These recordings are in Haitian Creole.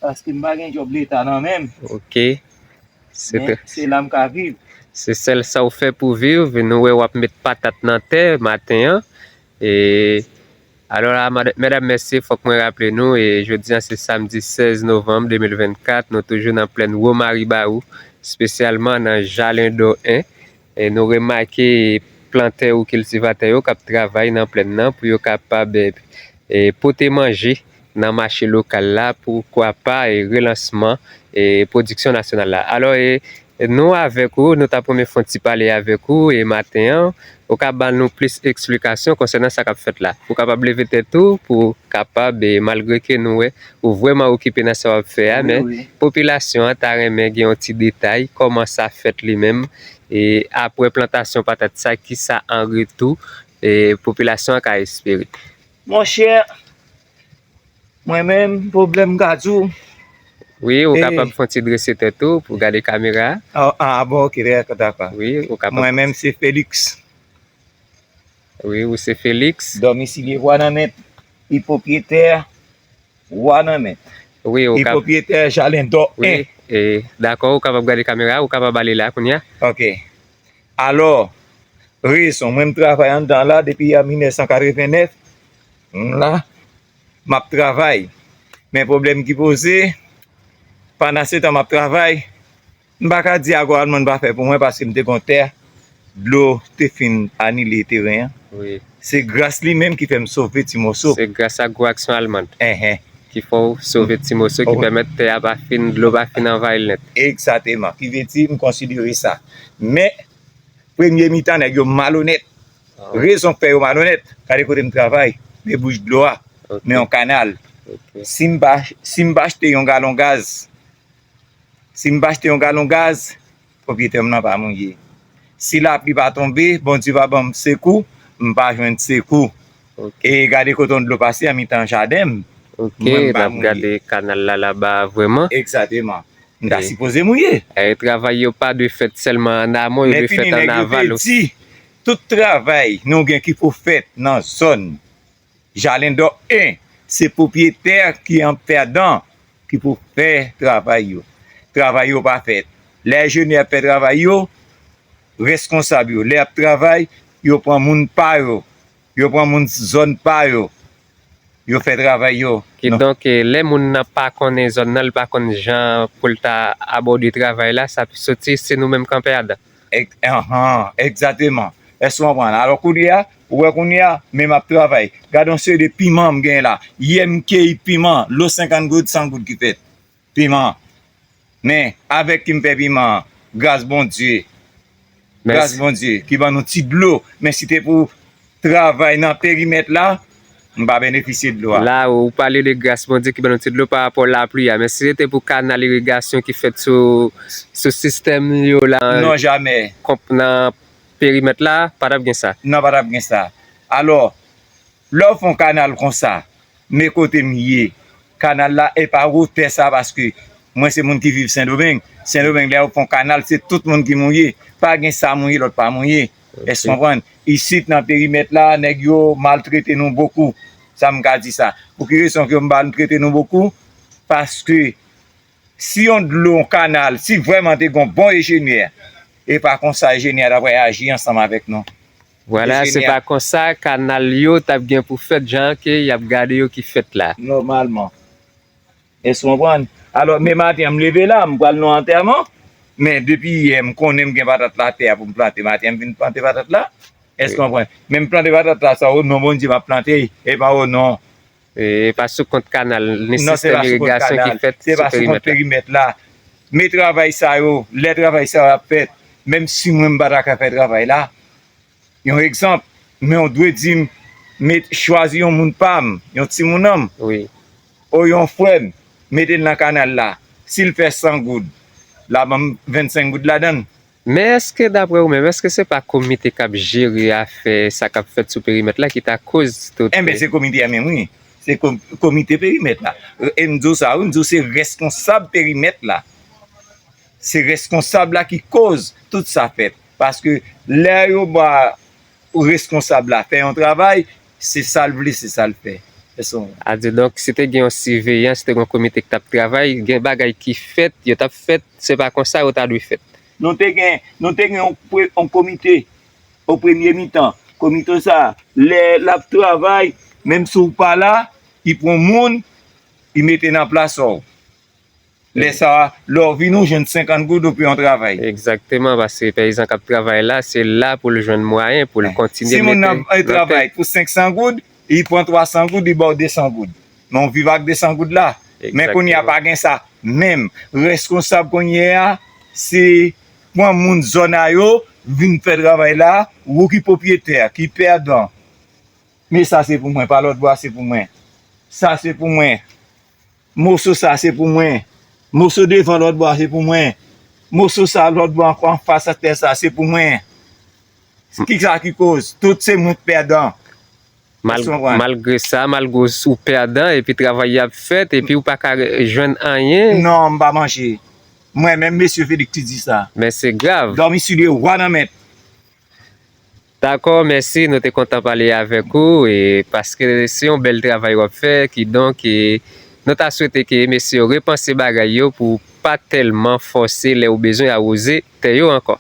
Paske m pa gen djòb leta nan men m. Ok. Men, se la m ka viv. Se sèl sa w fè pou viv. Nou wè w ap met patat nan tè maten an. E, alò la, medam mesye, fòk mwen raple nou, e jodi an se samdi 16 novanm 2024, nou toujou nan plèn Womariba ou, spesyalman nan Jalendò 1, Nou remake plantè ou kiltivatè yo k ap travay nan plenn nan pou yo kapab pote manje nan mache lokal la, poukwa pa relansman pwodiksyon nasyonal la. Alò, nou avèk ou, nou ta pou renmen fè yon ti pale avèk ou maten an, ou ka ban nou plis eksplikasyon konsènan sa k ap fèt la. Ou kapab leve tèt ou pou kapab, malgre ke nou wè Ou vrèman okipe nan sa w ap fè a men popilasyon an ta renmen gen yon ti detay kòman sa fèt li menm e apre plantasyon patat sa ki sa an retou popilasyon an ka espere. Monchè mwen menm pwoblèm m ka di w. Wi ou kapab fon ti drese tèt ou pou gade kamera a. A bon ok dako dako mwen menm se Felix. Wi ou se Felix. Dòmi sile wa nan mèt e pwopriyetè wa nan mèt e pwopriyetè jalendò 1. Dakò ou kapab gade kamera ou kapab ale la kounya. Ok alò rezon mwen m travay anndan la depi an 1989 m la m ap travay men pwoblèm ki poze pandan se tan m ap travay M pa ka di akò Almand pa fè pou mwen paske m te gon tè dlo te fin anile teren an. Se gras li menm ki fè m sove ti moso. Se gras ak gwo aksyon Almand ki fè w sove ti moso ki pèmèt tè a pa fin, dlo pa fin anvayi l nèt. Egzateman. Ki vle di m konsidere sa. Men, premye mitan nèg yo malonèt. Rezon k fè yo malonèt, gade kote m travay, debouch dlo a nan yon kanal. Si m pa achte yon galon gaz Si m pa achte yon galon gaz, pwopriyetè m nan pa mouye. Si lapli pa tonbe, Bondye pa ban m sekou, m pa jwenn sekou. E gade kote yon dlo pase an mitan jaden m, mwen m pa mouye. Ok, n ap gade kanal la laba a vreman. Egzateman. M ta sipoze mouye. E travay yo pa dwe fèt sèlman an amon, yo dwe fèt an aval osi. Tout travay nou gen ki pou fèt nan zòn. Jalendò 1, Se pwopriyetè ki an pèdan ki pou fè travay yo. Travay yo pa fèt. Lè enjenyè ap fè travay yo, reskonsab yo, lè y ap travay, yo pran moun pa yo, yo pran moun zòn pa yo, yo fè travay yo. Kidonk, lè moun nan pa konnen zòn nan, li pa konn jan pou l ta abòde travay la, sa pi soti se nou menm k an pèdan. Anhan, egzateman. Èske ou konprann? Alò koulye a, ou wè kounye a, men m ap travay. Gad yon seri de piman m genyen la. Yè m keyi piman, lo 50 goud, 100 goud ki fèt. Piman. Men, avèk ki m fè piman an? Gras Bondye. Gras Bondye ki ban nou ti dlo. Men si te pou travay nan perimèt la, m pa benefisye dlo a. La a, ou pale de gras Bondye ki ban nou ti dlo parapò lapli a. Men si se te pou kanal irigasyon ki fèt sou sistèm yo la. Non, jamè. Nan perimèt la, pa t ap gen sa. Non, pa t ap gen sa. Alò, lè w fè yon kanal kon sa, men kote m ye, kanal la e pa wotè sa paske mwen se moun ki viv Sendomeng. Sendomeng, lè yo fè yon kanal, se tout moun ki mouye. Pa gen sa mouye, lòt pa mouye. Èske w konprann? Isit nan perimèt la, nèg yo maltrete nou bokou. Sa m ka di sa. Pou ki rezon ke yo maltrete nou bokou? Paske si yon dlo, yon kanal, si vrèman te gen yon bon ejenyè, e pa konsa ejenyè a t ap reyaji ansanm avèk nou. Vwala, se pa konsa kanal yo t ap gen pou fèt jan ke y ap gade yo ki fèt la. Nòmalman. Èske w konprann? Alò, men maten an, m leve la, m pral nan yon antèman, men depi yè, m konnen m gen patat la atè a pou m plante, maten an m vin plante patat la. Èske w konprann? Men m plante patat la sa, onon Bondye m ap plante, e pa onon. E pa sou kont kanal, ni sistèm irigasyon ki fèt sou perimèt la. Non, se pa sou kont kanal, se pa sou kont perimèt la. Men travay sa yo, lè travay sa yo ap fèt, menm si mwen m pa ta ka fè travay la. Yon egzanp, men w dwe di m met chwazi yon moun pa m, yon timoun an m, o yon frè m, mete l nan kanal la. Si l fè san goud, l a ban m vennsenk goud ladan l. Men èske daprè ou menm, èske se pa komite k ap jere afè sa k ap fèt sou perimèt la ki ta koz tout. Enben se komite a menm wi. Se komite perimèt la. E m di w sa wi, m di w se rèsponsab perimèt la. Se reskonsab la ki koz tout sa fèt. Paske lè yo ba reskonsab la fè yon travay, se sa l vle, se sa l fè. Adye donk si te gen yon siveyan, si te gen yon komite ki t ap travay, gen bagay ki fèt, yo t ap fèt, se pa konsa yo ta dwe fèt. Nou te gen, nou te gen yon komite o premye mitan. Komite sa a, lè l ap travay, menm si w pa la, li pran moun, li mete nan plas ou. Lè sa a, lè w vini, w jwenn 50 goud, w pran yon travay. Egzakteman, paske peyizan k ap travay la, se la pou l jwenn mwayen pou l kontinye mete nan tèt. Si moun nan travay pou 500 goud, li pran 300 goud, li ba w 200 goud. Men w viv ak 200 goud la. Men kounye a, pa gen sa. Menm reskonsab kounye a, se pran moun zòn a yo, vin fè travay la, wou ki pwopriyetè, ki pèdan. Men sa se pou mwen, pa lòtbò a se pou mwen. Sa se pou mwen. Moso sa se pou mwen. Moso devan lòt bò a se pou mwen. Moso sa lòt bò ankò anfas ak tè sa se pou mwen. Ki sa ki koz? Tout se mwen k pèdan. Èske w konprann? Malgre sa, malgre ou pèdan epi travay yo ap fèt epi ou pa ka jwenn anyen. Non, m pa manje. Mwen menm Mesye Felix ki di sa. Men se grav. Dòmi sou de wa nan mèt. Dakò mèsi nou te kontan pale avèk ou paske se yon bèl travay wap fè kidonk nou ta swete ke mesye yo repanse bagay yo pou pa tèlman fòse lè ou bezwen awoze tè yo ankò.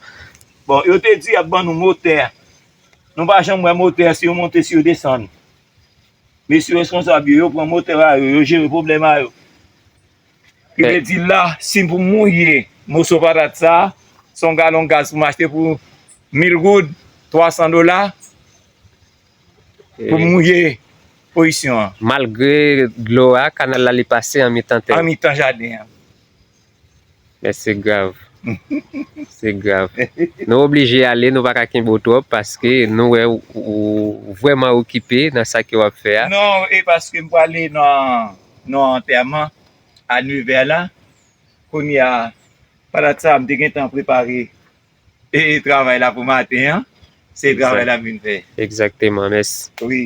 Bon yo te di yap ban nou motè nou pa janm wè motè si yo monte si yo desann mesye responsab yo yo pran motè a yo yo jere pwoblèm a yo Ki vle di la, si pou m mouye moso patat sa, si yon galon gaz pou m achte pou 1000 goud, 300 dola, pou m mouye pozisyon an. Malgre dlo a, kanal la li pase an mitan tè. An mitan jaden an. Men se grav. Se grav. Nou oblije ale, nou pa ka kenbe w twòp paske nou wè ou vrèman okipe nan sa ke w ap fè a. Non, e paske m prale nan antèman a nevè la. Kounye a, pandan sa m te gentan prepare travay la pou maten an. Se travay la m vin fè. Egzakteman, mèsi. Wi.